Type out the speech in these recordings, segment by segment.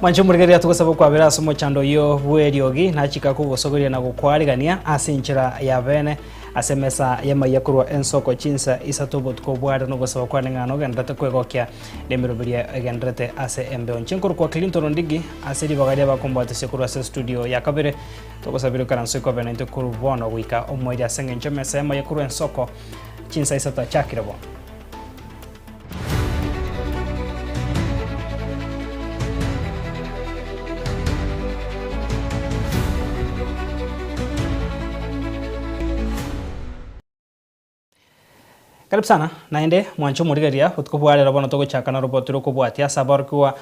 Mwanche morigereria togosaba okwabera ase omochando oyio bw'eriogi, nachika kogosoberia na gokwaregania ase enchera ya bene ase emesa y'amaiga korwa ensoko chinsa isato obotuko bware nogosaba kwane ng'ana ogenderete kwegokia nemiroberio egenderete ase embeo. Inche nkorokwa Clinton Ndigi ase ribaga riabakomboatesia korwa ase studio ya kabere togosabire okaranso ikobe naintwe korwa bono goika omoerio ase engencho emesa y'amaiga korwa ensoko Chinsa isato achakire bo. Karibu sana naende mwanche omorigereria botuko bwa rero bono togochaka na roboti rokobwatia ase aborokigwa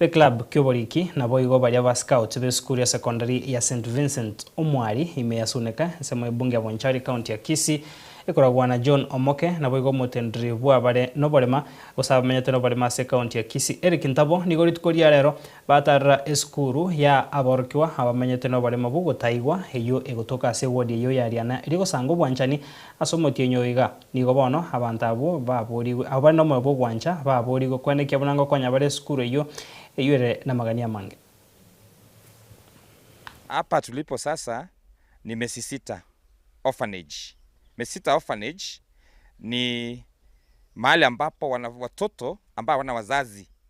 B'eclub ki'oboriki naboigo baria ba Scout b'esukuru ya secondary ya St Vincent Omwari ime ya Suneka ensemo ya Bunge ya Bonchari county ya Kisii ekoragwa na John Omoke naboigo omotendereri bw'abare noborema gose abamenyete noborema ase county ya Kisii Eric Ntabo nigo rituko ria rero batarera esukuru ya aborokigwa abamenyete noborema bw'ogotaigwa eyio egotoka ase ewodi eyio ya Riana eria egosanga obwanchani ase omotienyi oiga Nigo bono abanto abwo baboorigwe, abwo bare nomoyo bw'ogwancha baboorigwe, korende ekiya buna ngokonya bare esukuru eyio, eyio ere namagania amange. Hapa tulipo sasa ni Mesisita Orphanage. Mesisita Orphanage ni mahali ambapo watoto ambao hawana wazazi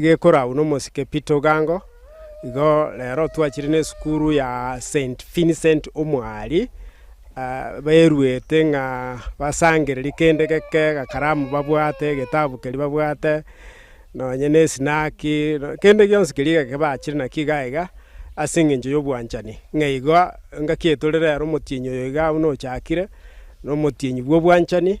gekoragwa nomosike Peter Ogango, igo rero twachire nesukuru ya Saint Vincent Omoaria, baeruete ng'a basangereri kende geke, agakaramu babwate, egetabu keria babwate, nonye na esinaki, kende gionsi keria egeke bachire nakio iga iga, ase eng'encho ya obwanchani, ng'a igo engaki etore rero omotienyi oyo iga buna ochakire, na omotienyi bwa obwanchani.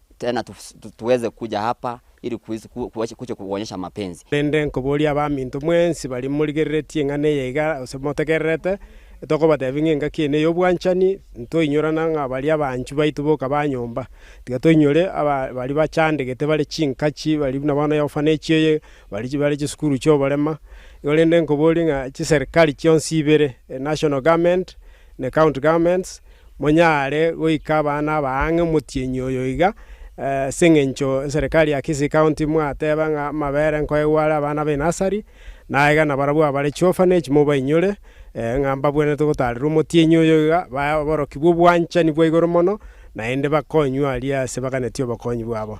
Tena tuweze kuja hapa ili kuche kukuonyesha mapenzi. Korende nkoboria abaminto mwensi baria morigereretie eng'ana eye iga, gose motegererete, tokobatebia ng'a engaki eye ney'obwanchani, ntoinyorana ng'a baria abanchwa baito boka ba nyomba. Tiga toinyore baria bachandegete bare chinkachi, baria buna bono eofanage eye, baria bare chisukuru chi'oborema. Igo rende nkoborie ng'a chiserikari chionsi ibere, enational government, na ecounty governments. Monyare goika abana aba ang'e omotienyi oyo iga, ase engencho enserekari ya Kisii County mwateba ng'a amabere nkoegwa are abana ba enasari, na aiga nabarabwo abare chiofanage mobainyore, ng'a mbabwenerete gotaarerwa omotienyi oyo iga, bae oborokigwa obwanchani bwa igoro mono, naende bakonywe aria ase baganetie obokonyi bwabo.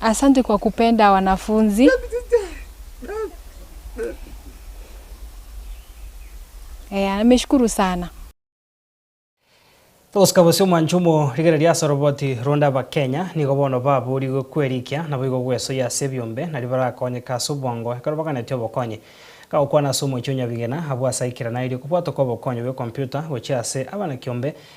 Asante kwa kupenda wanafunzi. Eh, ameshukuru sana. Bosika bosio omwanche omo rigere ria Asoroboti ronde Abakenya nigo bono baboorigwe kwerikia naboigo gwesoyia ase ebiombe nario barakonyeke ase obwango ekero baganetie obokonyi. Kagokwana ase omochie o Nyabigena, abwo ase aikera nairie kobwatwa kwa obokonyi bwe computer gochia ase abana kiombe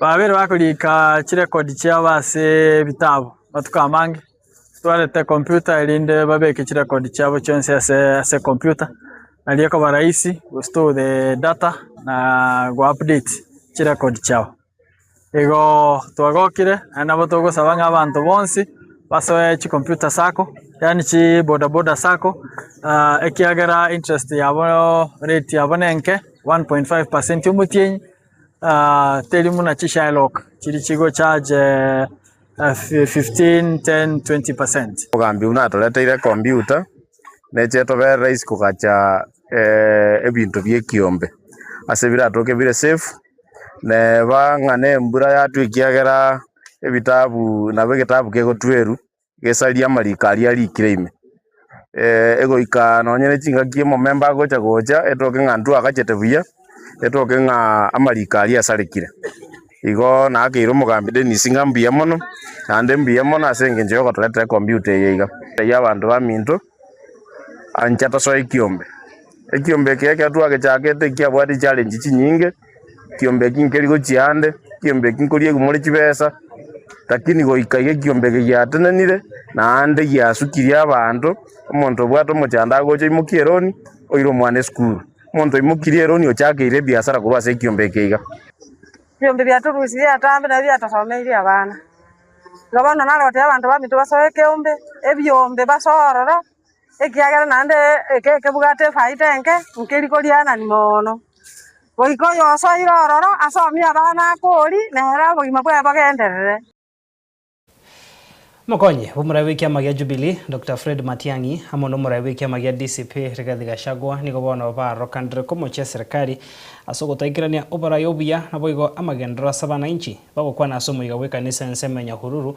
Babere bagorika chirekodi chiabo ase ebitabu matuko amange, twarete computer erinde babeke chirekodi chiabo chionsi ase ase computer, nario ekoba rahisi to store the data na go update chirekodi chiabo. Igoo twagokire naende nabo togosaba ng'a abanto bonsi basoe chicomputer sako yaani chi bodaboda sako aa ekiagera interest yaboo rate yabo nenke one point five percent omotienyi. teri buna chishylock chiri chigo charge 15, 10, 20 percent. Omogambi buna atoreteire ekombiuta neche etobere rahisi kogacha ebinto bi'ekiombe ase biratoke bire safe, neba ng'a na embura yatwa ekiagera ebitabu nabo egetabu kegotweru. gesaria amariko aria arikire ime, egoika nonye ne chingaki omomemba agocha gocha etoke ng'a intwe agachete buya, etoke ng'a amariko aria asarekire, igo naakeirie omogambi Dennis ng'a mbuya mono, naende mbuya mono ase eng'encho ya ogotoretera ecomputa eye iga, eyio abanto baminto ancha tosoe ekiombe, ekiombe eke ekero twagechakete ekiabwate echallenge chinyinge. ekiombe ekio nkeri gochia ande, ekiombe ekio nkoria egumore chibesa, lakini goika iga ekiombe eke giatenenire, naende giasukiri abanto, omonto obwate omochando agocha oimokia eroni, oire omwana esukuru, omonto oimokirie eroni ochakeire ebiasara korwa ase ekiombe eke iga. Ebiombe biatorusirie atambe nabio biatosomeirie abana. Igo bono narotire abanto baminto basoe ekeombe, ebiombe basoe ororo. ekiagera naende ekebwate efaida enke, nkeri korianani mono. Goika oyosoire ororo asomie abana akori, na ere obogima bwaye bogenderere. Omokonyi bw'omoraia bw'ekiama gia Jubilee, Doctor Fred Matiang'i, amo n'omoraia bw'ekiama gia DCP, Rigathi Gachagua, nigo bono baarorokanire komochia eserikari ase ogotoikerania oboraia obuya, naboigo amagenderero ase abanainchi, bagokwana ase omoika bw'ekanisa ensemo e Nyahururu,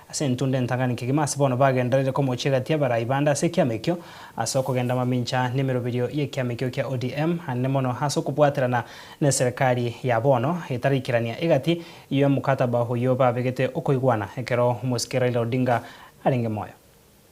Ase intwe onde ntang'ani kegima ase bono bagenderere komochia egati abarai bande ase ekiama ekio ase okogenda mamincha nemeroberio y'ekiama ekio kia ODM ande mono ase okobwaterana neserekari ya bono etaraikerania egati y'omokataba oyio babegete okoigwana ekero omosike Raila Odinga arenge moyo.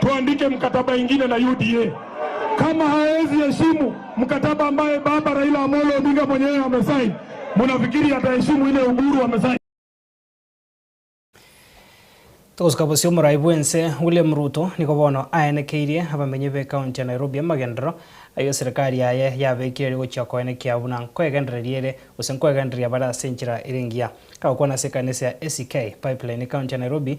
Tuandike mkataba ingine na UDA kama haezi heshimu mkataba ambaye baba Raila Amolo Odinga mwenyewe amesign, munafikiri ataheshimu ile Uhuru amesign? Togosika bosio omorai bw'ense William Ruto nigo bono aenekeirie abamenyi b'ekaunti ya Nairobi amagenderero ayio serikari yaye yabekire ere gochia koenekia buna nkwegendereria ere gose nkwegendereria bare ase enchera ere engiya. Agokwana ase ekanisa ya ACK Pipeline ekaunti ya Nairobi,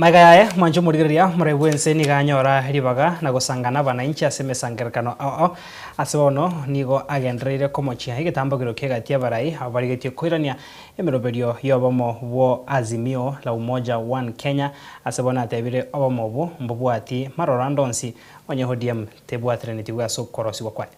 Magega yaye mwancha omorigereria moraai bw'ense nigo anyora ribaga na gosanga n'abanainchi ase emesangererekano oo. Ase bono nigo agendereire komochia egetambo ekerokia egati y'abarai abarigetie koirania emeroberio y'obomo bwo Azimio la Umoja One Kenya. Ase bono atebire obomo obwo mbobwati maroro ande onsi, onye ODM tebwatiraneti bwe ase okworosigwa kwaye.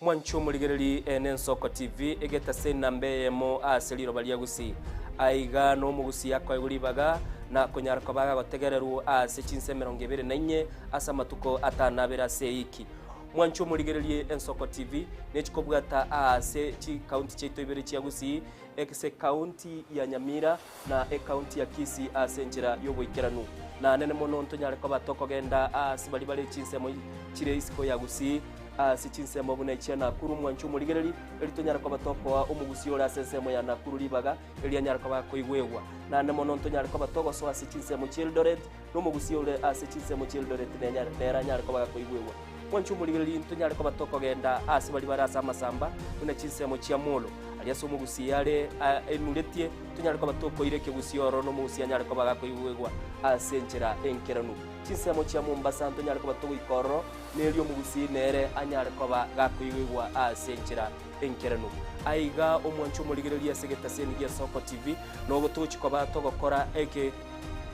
Mwanche omorigereri Eena Ensoko TV egetase namba eyemo aase riroba ria Gusii? Aiga n'Omogusii akoegwa ribaga nakonyara koba agagotegererwu aase chinsa emerongo ebere na inye ase amatuko atano abere ase ewiki. Mwanche omorigereri Ensoko TV nechikobwata aase chikaunti chiaito ibere chia Gusii, egese County ya Nyamira, na ekaunti ya Kisii ase enchera y'oboikeranu. Nanene mono ntonyare koba tokogenda aase baria bare chinsemo chire isiko ya Gusii, aase chinsemo buna echia Nakuru, mwanche omorigereri, erio tonyare koba tokoa Omogusii ore ase ensemo ya Nakuru ribaga eria anyare koba akoigwegwa. Nanene mono ntonyare koba togosoa ase chinsemo chia Eldoret, Nomogusia ore ase chinsemo chi'Eldoret nenyare, nere anyare koba gakoigwegwa. Mwanche omorigereria into nyare koba tokogenda ase baria bare ase amasamba, buna chinsemo chia Molo. Aria ase omogusia yare ainuretie, tonyare koba tokoira ekegusii oro nomogusia anyare koba gakoigwegwa ase enchera enkeranu. Chinsemo chia Mombasa ntonyare koba togoika ororo, nerio omogusi nere anyare koba gakoigwegwa ase enchera enkeranu. Aiga omwanche omorigereria ase egetaseni gia Soko TV, nogo togochi koba togokora eke.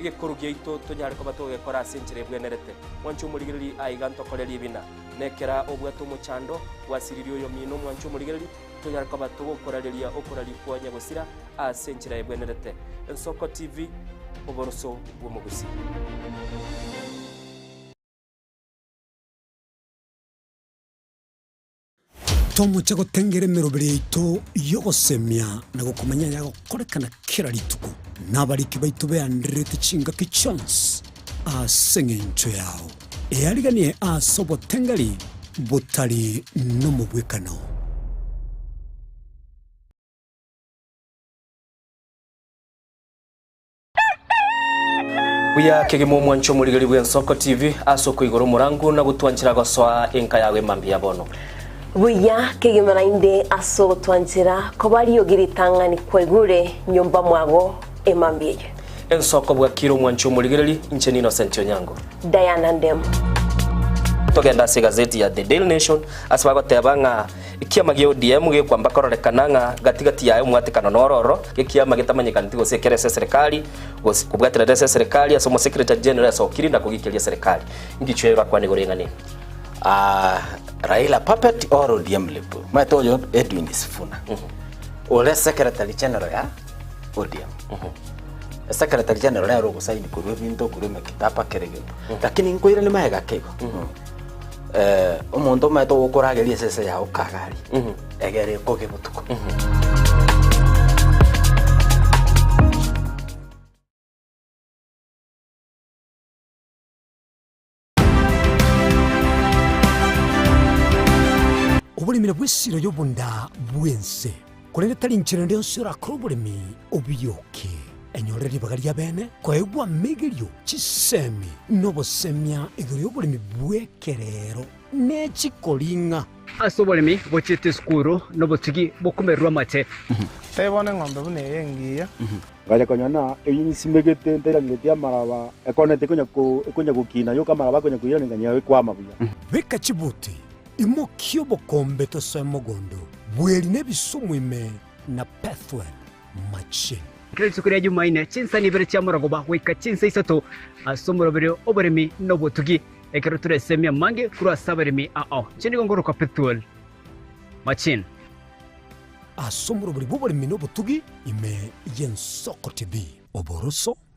egekorwa giaito tonyare koba togekora ase enchera ebwenerete. Mwanchi omorigereri aiga ntokore riibina. Nekera obwate omochando, bwasiriri oyomino mwanchi omorigereri, tonyare koba togokorareria okoraria kwa onye gosira ase enchera ebwenerete. Ensoko TV, Oboroso bw'Omogusi. Tomoche gotengera emeroberi yaito y'ogosemia na gokomanya ayagokorekana kera rituko, na abariki baito beandererete chingaki chionsi ase engencho yao, eariganie ase oboteng'eri botari nomobwekano. Buya kegima omwanche omorigeri bw'Ensoko TV ase okoigora omorango na gotwanchera gosoa enka yago ime mbuya bono. Buya kegima naende ase ogotwanchera koba riogi ritang'ani kwaigure nyomba mwago ime mbuya eye. Ensoko bwakire omwanche omorigereri, inche n'Innocent Onyango. Diana Ndemu. Togenda ase egazeti ya The Daily Nation ase bagoteba ng'a Ekiama gia ODM gekwamba kororekana ng'a gati gati yaye omwatekano nororo gekiama getamanyekaneti gose ekero ase eserekari gose kobwaterera ase eserekari ase omosekretari general esokiri na kogikeria eserekari. Ingicho eye erakwana igoro y'eng'ana eye. Raila puppet or ODM lip? Omanyete oyo Edwin Sifuna ore secretary general ya ODM. Secretary general nere ore ogosaini korwa ebinto korwa emekitaba kera egento. Lakini nkoirane magega keigo. eh, omonto omaete ogokorageria esese yao kagari egere ekoge botuko Oboremera bw'esiro y'obonda bw'ense. Korende tari inchera ende yonsi orakore oboremi obioke. Enyorere ribaga ri'abene koegwa amegerio, chisemi, na obosemia igoro y'oboremi bw'ekerero ne chikoring'a. Ase oboremi bochiete esukuru na obosigi bokomererwa amache. Tari bono eng'ombe buna eye engiya. Ngacha konya na eyio nyisimegete ntairangereti amaraba, ekona ete ekonya gokina, yoka amaraba akonya koirana enganya yao ekwama buya. Beka chibuti. Imokia obokombe tosoe mogondo oo, bweri nebisumu ime na Pethuel machine. Kera rituko ria Jumaine, chinsani ibere chia marogoba goika chinsa isato ase omoroberi oboremi na obotugi. Ekero tore esemi amange korwa ase abaremi ao, inche nigo nkoroka Pethuel machine. Ase omoroberi bw'oboremi na obotugi ime y'ensoko tibi oboroso.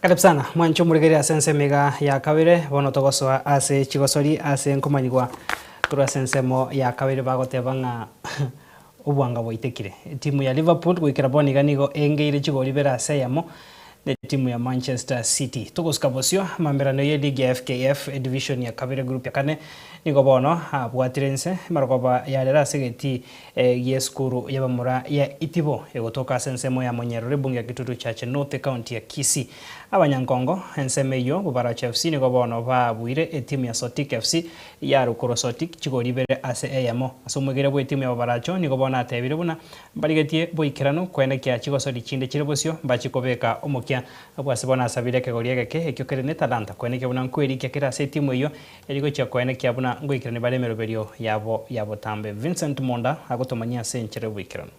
Karibu sana, mwanche omoregereria ase ensemo iga ya kabere. Bono togosoa ase chigosori ase nkomanyigwa korwa ase ensemo ya kabere bagoteba ng'a obwanga bwaitekire. Etimu ya Liverpool goikera bono iga nigo engeire chigori ibere ase eyemo na etimu ya Manchester City. Togosika bosio, amamerano ye ligi ya FKF Division ya kabere group ya kane nigo bono abwatire inse, emerogoba yarera ase egetii Egi esukuru y'abamura ya Itibo egotoka ase ensemo ya Monyerori bunge ya Kitutu Church North ekaunti ya Kisii. Abanyankongo ensemo eyio Bubaracho FC nigo bono baabuire etimu ya Sotik FC ya Rukuro Sotik chigori ibere ase eyemo. Ase omwegerero bw'etimu ya Bubaracho nigo bono atebire buna mbarigetie boikeranu kwene kia chigosori chinde chire bosio mbachi kobeka omokia. Abwase bono asabire ekegori egeke ekio kere netalanta kwene ekio buna nkwerikia kere ase etimu eyio Eri gochia koenekia buna ngoikerania bare emeroberio yabo ya botambe. Vincent Monda agotomanyia ase enchera y'oboikeranu.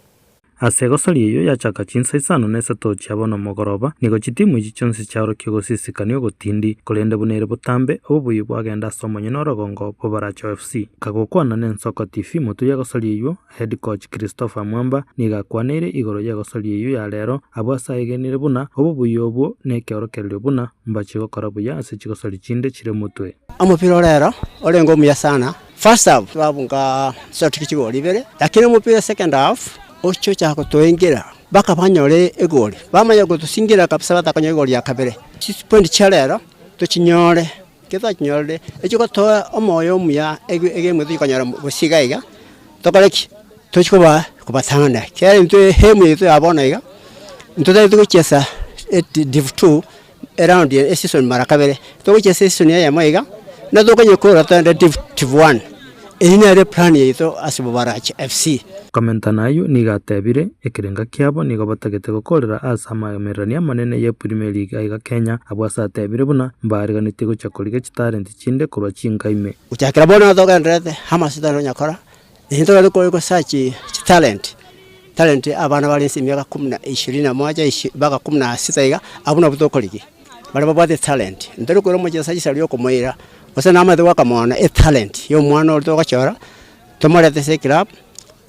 Ase egosoria eyio yachaka chinsa isano na isato chia bono omogoroba, nigo chitimu echi chionsi chiaorokia ogosisikani ogotindi, korende buna ere botambe, obobuya bwagenda ase omonyene orogongo bw'Abaracho FC. Agokwana n'Ensoko TV, moturi egosoria eyio, Head Coach Christopher Mwamba nigo akwaneire igoro y'egosoria eyio ya rero, abwo ase aegenire buna obobuya obwo nekeorokererio buna mbache gokora buya ase chigosori chinde chire motwe. Omopira o rero orenge omuya sana. First half twabunga short ki chigori ibere, lakini omopira second half ochia ochaka gotoengira mpaka banyore egori, bamanya gotosingira kabisa batakonyora egori ya kabere. Chipoint chia rero tochinyore. Ekio twanyorire echia gotoa omoyo omuya egento tikonyara gose iga iga, tokore ki? Tochi kobatang'ana ekiagera intwe aim yaito ya bono iga, intwe totaete gochesa div two eround eye eseason mara kabere, togochesa eseason eyemo iga, nabo tokonyara koirora togende div one. Eyio nere eplan yaito ase Bobarache FC. Komentana ayio nigo atebire, Ekerengo kiabo nigo batagete gokorera aase amamererania amanene ye Premier League aiga Kenya, abwo ase atebire buna mbaariganitie gocha korigia chitalent chinde korwa chinka ime. Gochakera bono togenderete Hammers tari nonya kora eyio togete kore go search chitalent, talent abana bare inse emiaka kumi na ishirini na moja mpaka kumi na sita iga, abwo nabwo tokorigia. baria babwate etalenti, ntari okoira omochie ase esaria okomoira, gose namanyete goaka mono etalenti ya omwana oria togochora, tomorete ase eclub,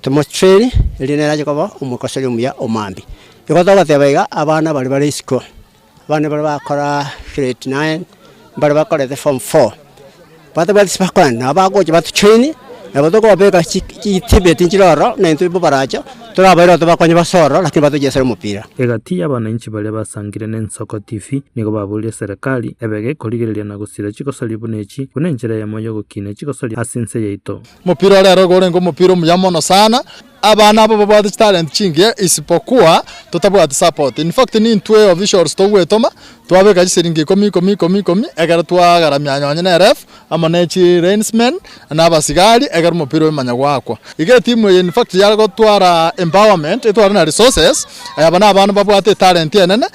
tomotrain, erinde nere ache koba omokoseri omuya omambia. Igo togoteba iga abana baria bare isiko, abana baria bakoraa grade nine, mbaria bakorete form four. Batabwati sibakogenda, nabo bagocha batochoinie, nabo tokobeka chitibeti nchire ororo, na intwe bobaracho, torabaire oo tobakonye base ororo, lakini batochesere omopira. Egati y'abananchi baria basangire n'Ensoko TV nigo baboirie serikali ebege ekorigereria na gosira chigosoria buna echi buna enchera eyemo y'ogokina echigosoria ase ense yaito. Omopira orero igo orenge omopira omuya mono sana, abana aba babwate chitalent chingiya isipokuwa totabwati support, in fact nintwe officials togwetoma twabeka chisiringi ikomi ikomi ikomi ikomi ekero twagaramia nonye ne ref amo ne chi lains men na abasigari ekero omopira oyo manya gwakwa. Iga etimu eye in fact yare gotwara empowerment etware na resources, aba na abana babwate etalent enene.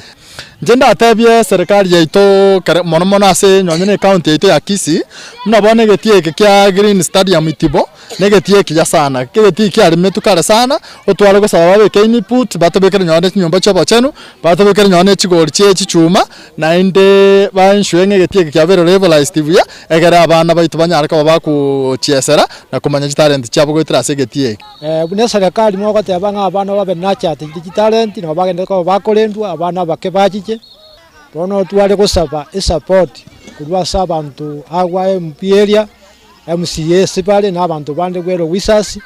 Inche ndatebie eserekari yaito kere mono mono ase nonye ne county yaito ya Kisii, buna bono egetie eke kia Green Stadium Itibo, negetie ekiya sana, egetie kiarimetwe kare sana, otware gosaba babeke input, batobekere nonye chinyomba chiobochenu, batobekere nonye ne chigori chie chichuma, naende ba ensure ng'a egetie eke kiabeire liberalized buya, egere abana baito banyare koba bagochiesera na komanya chitalent chiabo goetera ase egetie eke. Buna eserekari mogoteeba ng'a abana babe nachatichete chitalenti nabo bagenderete koba bakorendwa, abana abake bachiche. Bono tware gosaba esupport korwa ase abanto agwo aye MP area, MCA ase bare na abanto bande bwere Owisas,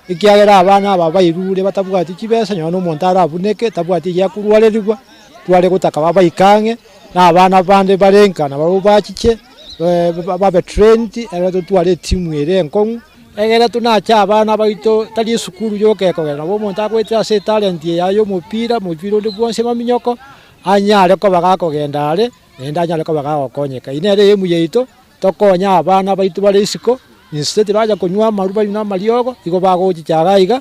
ekiagera abana aba bairure batabwati chibesa nonya omonto arabuneke tabwati eria akorwarerigwa, tware gotaka babaike ang'e na abana bande bare nka nabo bachiche babe trained ere nabo tware etimu ere enkong'u. Egera tinache abana baito tari esukuru yoka kogera nabo omonto agoetire ase etalent eye yaye omopira, omopira onde bwonsi emaminyoko, anyare koba gakogenda are, naende anyare koba gagokonyeka. Eye nere aim yaito, tokonye abana baito bare isiko, instead bacha konywa amarwa banywe na amariogo, igo bagochichaga aiga.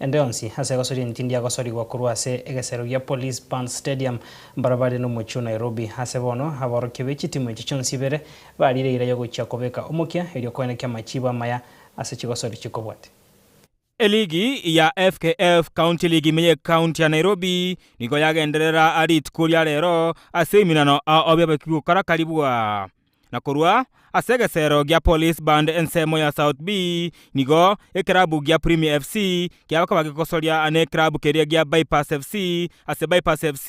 Ende onsi ase egosoria entindi agosorigwa korwa ase egesero gia Police Band Stadium mbarabare n'omochie o Nairobi. Ase bono, aborokia be chitimu echi chionsi ibere bariire eira yogochia kobeka omokia erio koene ki'amachiibo amaya ase chigosori chikobwate. Eligi ya FKF County League ime y'Ekaunti ya Nairobi nigo yagenderera rituko ria rero ase eminano ao biabekigwe korakari bwa. na korwa ase egeseero gia Police Band ensemo ya South B nigo ekerabu gia Premier FC kiagoka bagegosoria ane ekerabu keria gia Vipers FC ase Vipers FC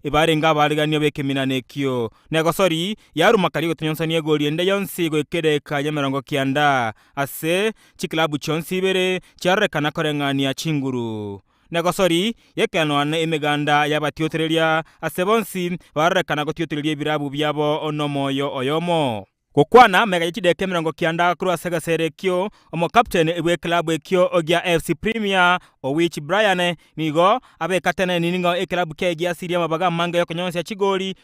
ebarenge abariganio b'ekeminana ekio negosori yaruma karia egotonyonsania egori ende yonsi goika edageka y'emerongo kianda ase chikelabu chionsi ibere chiarorekana koreng'ania chinguru. negosori y'ekeanwa na emeganda y'abatiotoreria ase bonsi barorekana gotiotoreria ebirabu biabo nomoyo oyomo. Gokwana mega ye chideka emerongo kianda korwa ase egeseri ekio, omokapteni bw'ekelabu ekio gia FC Premier Owich Brian nigo abekateneniri ng'a ekelabu kegiasirie amabaga amange y'okonyonsia chigori,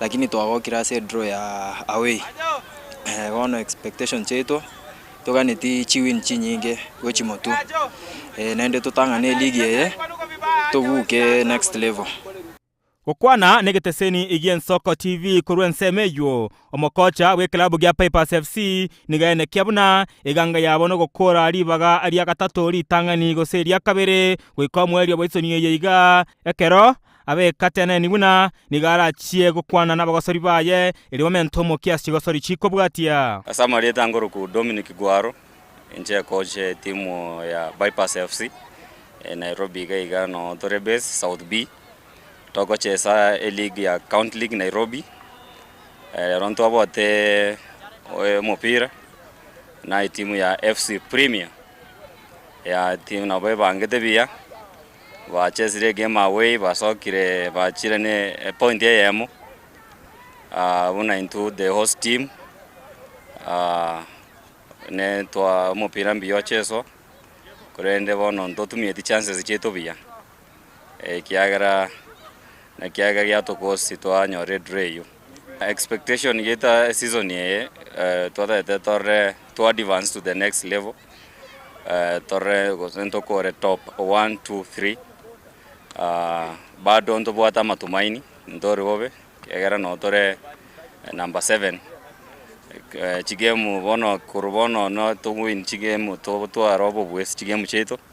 lakini twagokire ase edraw ya away, bono expectation chiaito toganeti chiwin chinyinge gochi motwe naende totang'ane eligi eye tobuke next level. Gokwana negeteseni gi'Ensoko TV korwa ensemo eyio, omokocha bw'ekelabũ gia Pipers FC nigo aenekia buna eganga yabo nogokora ribaga ria gatato ritang'ani gose ria kabere goika omoerio bw'esoni eye iga ekero Abekatenenigwe na nigo arachie gokwana nabagosori baye, erio bamente omo kiasi chigosori chikobwatia. Ase amarieta angoroku Dominic Gwaro, inche ekoch etimu ya Bypass FC, Nairobi iga iga noo tore base, South B. Togochesa eleague ya County League Nairobi, rero ntwabote omopira na etimu ya FC Premier, ya etimu nabo ebangete buya. Bachesire egame away, basokire bachire ne epoint eyemo buna intwe the host team ne twa omopira mbuya ocheswa, korende bono ntotumieti chances chiaito buya ekiagera ekiagera giatokosi twanyora edraw eywo. Expectation yaito ase eseason eye twataete torore to advance to the next level, tore gose ntokore top one, two, three, bado ntobwate amatumaini ntori bobe ekiagera nabo tore number seven, chigemu bono korwa bono no towin chigemu totwara obobwesi chigemu chiaito.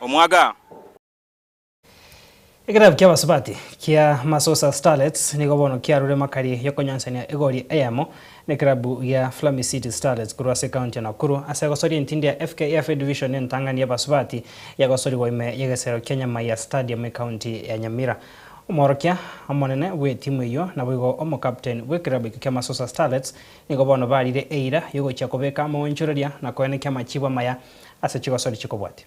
omwaga. Ekerabu ki'abasubati kia Masosa Starlets nigo bono kiarure makari y'okonyonsania egori eyemo nekerabu gia Flammy City Starlets korwa ase ekaunti ya Nakuru ase gosoria entindi ya FKF Edivision entang'ani y'abasubati yagosorigwa ime y'egesero kia Nyamaiya Stadium ekaunti ya Nyamira. Omworokia omonene bw'etimu eyio naboigo omokapteni bw'ekerabu ekio kia Masosa Starlets nigo bono barire eira y'ogochia kobeka amaonchoreria na koenekia amachibo amaya ase chigosori chikobwatia.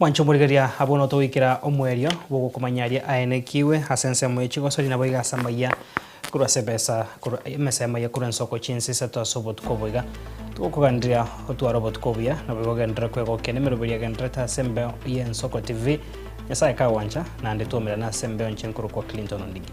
Mwanche omorigeria, abwo notogoikera omwerio bw'ogokomanya aria aenekigwe ase ensemo ye chigosori, naboigo ase amaiya korwa ase ebesa, korwa emesa y'amaiya korwa ensoko chinsa isato ase obotuko oboiga. Togokoganiria otware obotuko obuya, naboigo ogenderere kwegokia nemeroberi agendererete ase embeo y'ensoko TV. Nyasaye kagwancha, naende twaumerane ase embeo enche nkorokwa Clinton Ondigi.